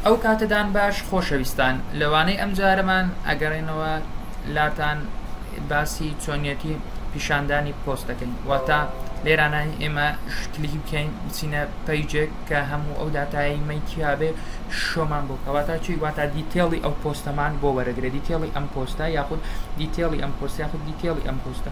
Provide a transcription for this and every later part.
ئەوکاتەدان باش خۆشەویستان لەوانەی ئەم جارەمان ئەگەڕێنەوە لاتان باسی چۆنیەتی پیشاندانی پۆست دەکەین واتە لێرانە ئێمە شکلیکی بکەین بچینە پەیجێک کە هەموو ئەو داتایی مەیتیابێ شۆمان بۆ کەواتا چی واتا دیتێڵی ئەو پۆستەمان بۆ وەرەگرە دیتێڵی ئەم پۆستە یاخود دیتێڵی ئەم پۆست یاخود دیتێڵی ئەم پۆستە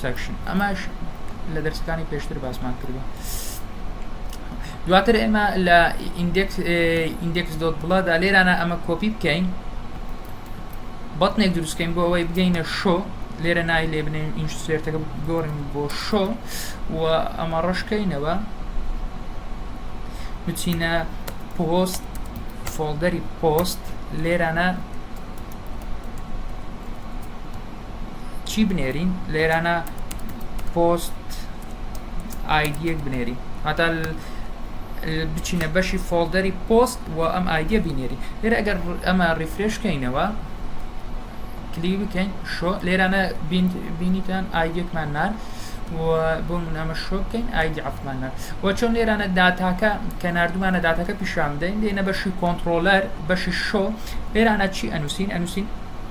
سەکشن ئەماش لە دەرسەکانی پێشتر باسمان کردوە دواتر ئێمە لە ئیندێکس ئیندێکس دۆت بڵادا لێرانە ئەمە کۆپی بکەین بەتنێک دروستکەین بۆ ئەوەی بگەینە شۆ لێرە نای لێ بنێن ئینش سێرتەکە گۆڕین بۆ شۆ و ئەمە ڕشکەینەوە بچینە پۆست فۆڵدەری پۆست لێرانە چی بنێرین لێرانە پۆست ئایدیەک بنێری هەتا بچینە بەشی فۆڵدەری پۆست و ئەم ئایدە بینێری لێرە ئەگەر ئەمە ڕیفرێشکەینەوە کلی بکەین شۆ لێرانە بینیتان ئایدێکمان نار و بۆ من ئەمە شۆ بکەین ئایدی عفمان نار و چۆن لێرانە داتاکە کە نردومانە داتاکە پیشان بدەین دێنە بەشی کۆنتترۆلەر بەشی شۆ لێرانە چی ئەنووسین ئەنووسین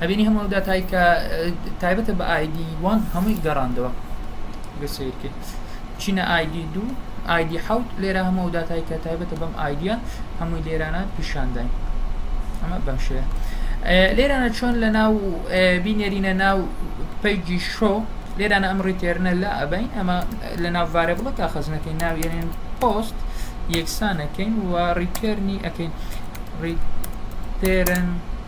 ئەبینی هەموو ئەو داتای کە تایبەتە بە ئایدی وان هەمووی گەڕاندەوە گە سیر کرد چینە ئایدی دوو ئایدی حوت لێرە هەموو داتای کە تایبەتە بەم ئایدە هەمووی لێرانە پیشانداین ئەمە بەم شێ لێرانە چۆن لە ناو بینێرینە ناو پیجی شۆ لێرانە ئەم ڕیتێرنە لا ئەبین ئەمە لە ناووارە بڵە کا خەزنەکەی ناوێنێن پۆست یەکسانەکەین و ڕیتێرنی ئەەکەین ڕیتێرن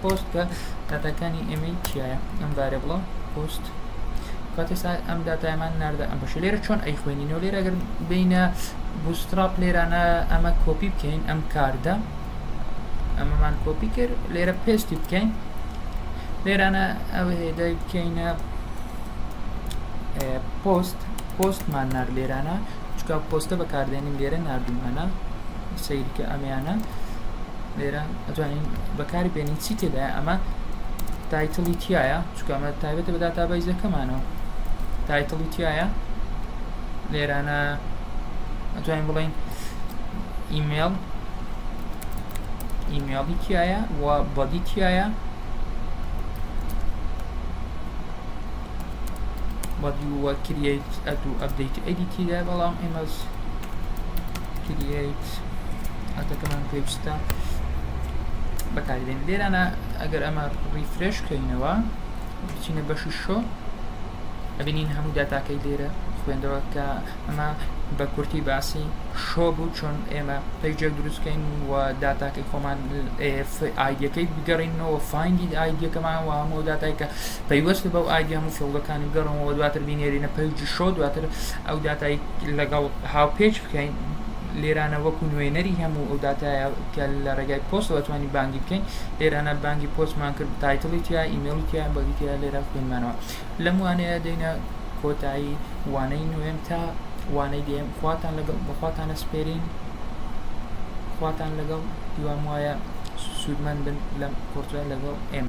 پۆست کە داتاکانی ئێمەی چیایە ئەم بارێ بڵە پۆست کاتی سا ئەم داتایمان ناردە ئەم بەش لێرە چۆن ئەی خوێنینەوە لێرە گەر بینە بوستراپ لێرانە ئەمە کۆپی بکەین ئەم کاردە ئەمەمان کۆپی کرد لێرە پێستی بکەین لێرانە ئەو هێدای بکەینە پۆست پۆستمان نار لێرانە چکا پۆستە بەکاردێنین لێرە نردومانە سیرکە ئەمیانە لێرە ئەتوانین بەکاری بێنین چی تێدایە ئەمە تایتڵی تایە چکەمە تایبەتە بە داتا بەیزەکەمانەوە تایتڵی تایە لێرانە ئەتوانین بڵین ئیمێل ئیمێڵی تایە و بەدی تایە بەدی وە کریت ئەدو ئەبدەیت ئەدی تیدا بەڵام ئێمەز کریت ئەتەکەمان پێویستە بەکاردێن لێرانە ئەگەر ئەمە ڕیفرێش بکەینەوە بچینە بەشی شۆ ئەبینین هەموو داتاکەی لێرە خوێندەوە کە ئەمە بە کورتی باسی شۆ بوو چۆن ئێمە پێجێک دروستکەین و داتاکەی خۆمان ئایدەکەی بگەڕینەوە فاینگی ئایدەکەمان و هەموو داتای کە پەیوەست بەو ئایدیا و فڵگەکانی گەڕمەوە دواتر بینێرینە پەیجی شۆ دواتر ئەو داتای لەگەڵ هاوپێچ بکەین لێرانە وەکو نوێنەری هەموو ئەو داتایە کە لە ڕێگای پۆستەوە توانی بانگی بکەین لێرانە بانگی پۆستمان کرد تایتڵی تیا ئیمێڵی تیا بەگی تیا لێرە خوێنمانەوە لەم وانەیە دەینە کۆتایی وانەی نوێم تا وانەی دێم خواتان لەگەڵ بەخواتانە سپێرین خواتان لەگەڵ هیوام وایە سوودمەند بن لەم کۆرتە لەگەڵ ئێمە